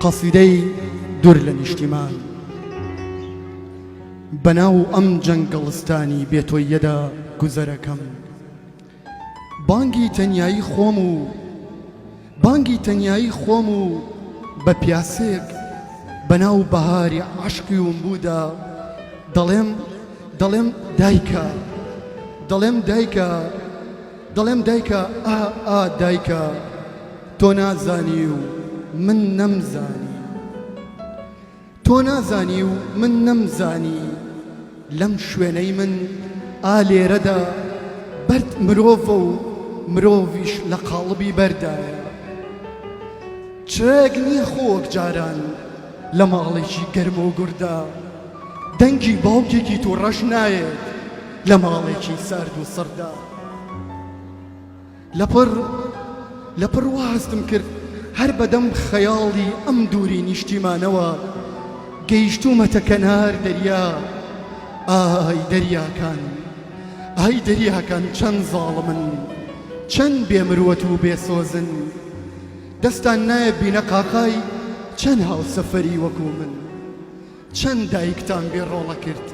قەسیدەی دور لە نیشتیمان بە ناو ئەم جەنگەڵستانی بێ تۆییەدا گوزەرەکەم بانگی تەنیایی خۆم و بانگی تەنیایی خۆم و بە پیاسێک بە ناو بەهاری عەشقی وم بوودا دەڵێم دەڵێم دایکە دەڵێم دایکە دەڵێم دایکە ئا ئا دایکە تۆ نازانی و من نەمزانی تۆ نازانی و من نەمزانی لەم شوێنەی من ئا لێرەدا بەرد مرۆڤە و مرۆڤیش لە قاڵبی بەردایە چرێک نییە خۆک جاران لە ماڵێکی گەرم و گوردا دەنگی باوکێکی تو ڕەش نایێت لە ماڵێکی سارد و سڕدا. لەپڕ لەپڕ وا هەستم کرد هەر بەدەم خەیاڵی ئەم دووری نیشتیمانەوە گەیشتوومەتە کەنار دەریا، ئای دەریاکان، ئای دەریاکان چەند زاڵمن، چەند بێ مروەت و بێ سۆزن، دەستان نایە بینەقاقای چەند هاوسەفەری وەکوو من، چەند دایکتان بێ ڕۆڵە کرد،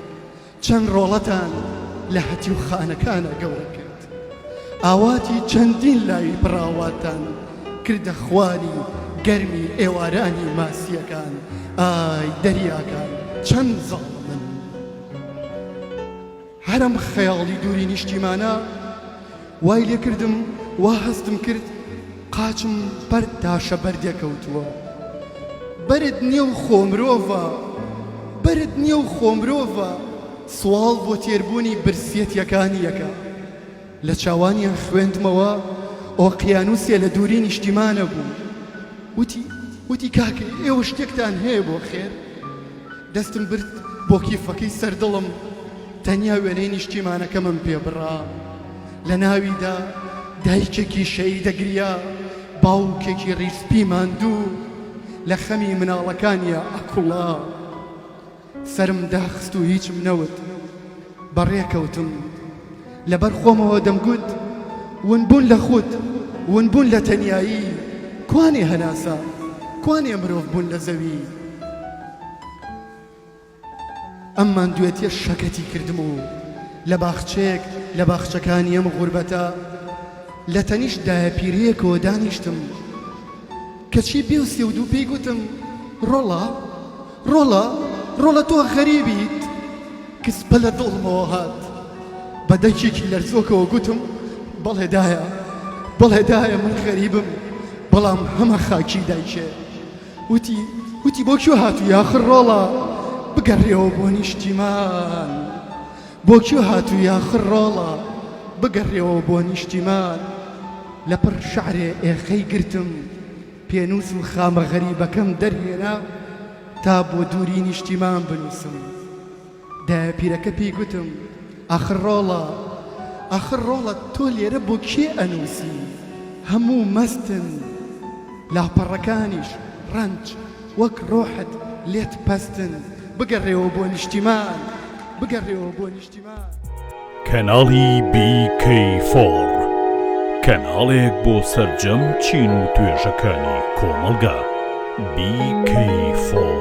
چەند ڕۆڵەتان لە هەتیوخانەکانا گەورە کرد، ئاواتی چەندین لاوی پڕاواتان کردە خواری گەرمی ئێوارانی ماسییەکان، ئای دەریاکان چەند زاڵمن. هەرم خەیاڵی دووری نیشتیمانە. وای لێ کردم وا هەستم کرد قاچم بەر تاشە بەردێ کەوتووە. بەرد نییە و خۆ مرۆڤە. بەرد نییە و خۆ مرۆڤە. سواڵ بۆ تێربوونی برسیەتیەکانی یەکە. لە چاوانیان خوێندمەوە ئۆقیانووسێ لە دووری نیشتیمانە بوو. وتی وتی کاکە ئێوە شتێکتان هەیە بۆ خێر؟ دەستم برد بۆ کیفەکەی سەر دڵم. تەنیا وێنەی نیشتیمانەکەمم پێ بڕا، لە ناویدا دایکێکی شەی دەگریا، باوکێکی ڕیزپی ماندوو لە خەمی مناڵەکانیا ئەکوڵا. سەرم داخست و هیچم نەوت. بەڕێ کەوتم. لەبەر خۆمەوە دەمگوت، ونبوون لە خود، ونبوون لە تەنیایی، کوانێ هەناسە؟ کوانێ مرۆڤبوون لە زەوی؟ ئەم ماندوێتیە شەکەتی کردم و لە باخچەیەک لە باخچەکانی ئەم غوربەتە لە تەنیشت دایەپیرەیەکەوە دانیشتم کەچی بێ و سێ و دوو پێی گوتم ڕۆڵە ڕۆڵە ڕۆڵە تۆ غەریبیت کز پە لە دڵمەوە هات بە دەنگێکی لەرزۆکەوە گوتم بەڵێ دایە بەڵێ دایە من غەریبم بەڵام هەمە خاکی دایکێ وتی وتی بۆ کوێ هاتووی ئاخر ڕۆڵە بگەڕێەوە بۆ نیشتیمان بۆ کوێ هاتووی ئاخر ڕۆڵە بگەڕێەوە بۆ نیشتیمان لە پڕ شعرێ ئێخەی گرتم پێنووس و خامە غەریبەکەم دەرهێنا تا بۆ دووری نیشتیمان بنووسم. دە پیرەکە پێی گوتم، ئاخر ڕۆڵە، ئاخر ڕۆڵە تۆ لێرە بۆ کێ ئەنووسی؟ هەموو مەستن، لاپەڕەکانیش ڕەنج، وەک ڕۆحت لێت پەستن، بگەڕێوە بۆ نیشتیمان، بگەڕێوە بۆ نیشتیمان. کەناڵی بی کەی فۆڕ، کەناڵێک بۆ سەرجەم چین و توێژەکانی کۆمەڵگا. بی کەی فۆڕ.